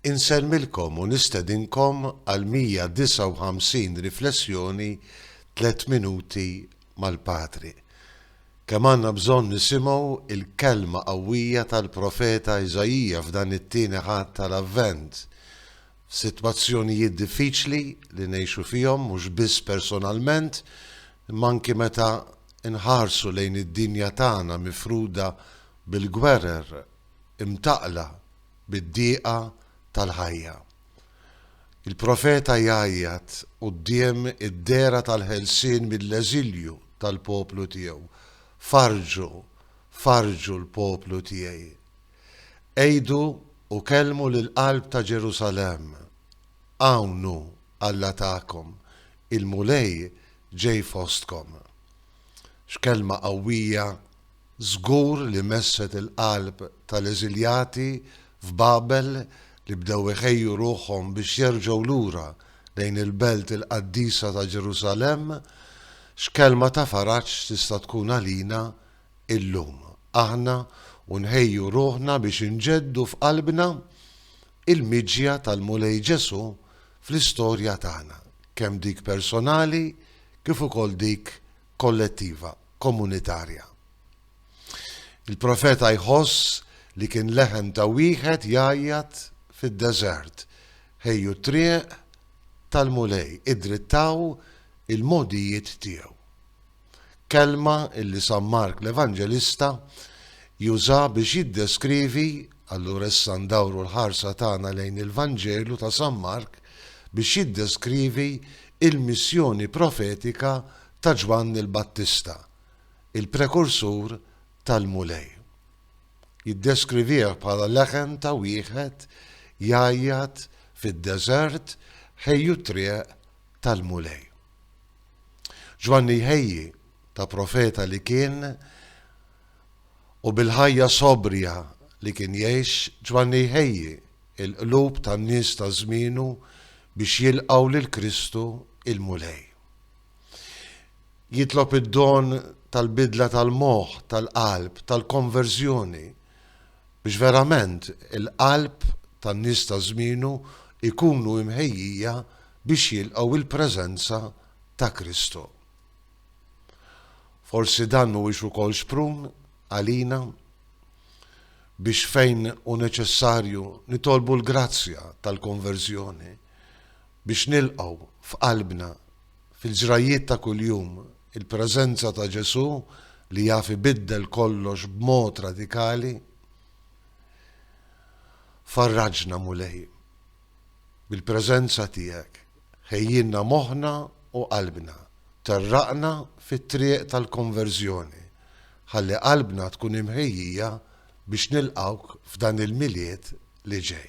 Insellmilkom u nistedinkom għall-159 riflessjoni Tliet Minuti mal-Patri. Kemm għandna bżonn nisimgħu l-kelma qawwija tal-profeta Iżaija f'dan it-Tieni Ħadd tal-Avvent, f'sitwazzjonijiet diffiċli li ngħixu fihom mhux biss personalment imma anki meta nħarsu lejn id-dinja tagħna mifruda bil-gwerer imtaqqla bid-diqa tal-ħajja. Il-profeta jgħajjat quddiem id-dehra tal-ħelsien mill-eżilju tal-poplu tiegħu, Farrġu, farrġu l-poplu tiegħi. Għidu u kellmu lill-qalb ta' Ġerusalemm, Hawn hu Alla tagħkom, il-Mulej ġej fostkom. X'kelma qawwija! Żgur li messet il-qalb tal-eżiljati f'Babel li bdew iħejju ruħhom biex jerġgħu lura lejn il-belt il-qaddisa ta' Ġerusalemm. X'kelma ta' faraġġ tista' tkun għalina llum aħna u nħejju ruħna biex inġeddu f'qalbna il-miġja tal-Mulej Ġesù fl-istorja tagħna, kemm dik personali kif ukoll dik kollettiva. Komunitarja. Il-profeta jħoss li kien leħen ta' wieħed jgħajjat fid-deżert, Ħejju t-triq tal-Mulej, iddrittaw il-mogħdijiet tiegħu. Kelma li San Mark l-Evanġelista juża biex jiddeskrivi allura issa ndawru l-ħarsa tagħna lejn il-Vanġelu ta' San Mark biex jiddeskrivi il-missjoni profetika ta' Ġwanni l-Battista, il-prekursur tal-Mulej. Jiddeskrivih bħala leħen ta' wieħed jgħajjat fid-deżert, Ħejju t-triq tal-Mulej. Ġwanni jħejji ta' profeta li kien u bil-ħajja sobrja li kien jgħix, Ġwanni jħejji l-qlub tan-nies ta' żmienu biex jilqgħu lil Kristu, il-Mulej. Jitlob id-don tal-bidla tal-moħħ, tal-qalb, tal-konverżjoni biex verament il-qalb tan-nies ta' żmienu jkunu imħejjija biex jilqgħu il-preżenza ta' Kristu. Forsi dan mhuwiex ukoll xprun għalina biex fejn u neċessarju nitolbu l-grazzja tal-konverżjoni Biex nilqgħu f'qalbna, fil-ġrajjiet ta' kuljum, il-preżenza ta' Ġesù li jaf ibiddel kollox b'mod radikali, farraġna, Mulej, bil-preżenza tiegħek, ħejjilna moħħna u qalbna, terraqna fit-triq tal-konverżjoni, ħalli qalbna tkun imħejjija biex nilqgħuk f'dan il-Milied li ġej.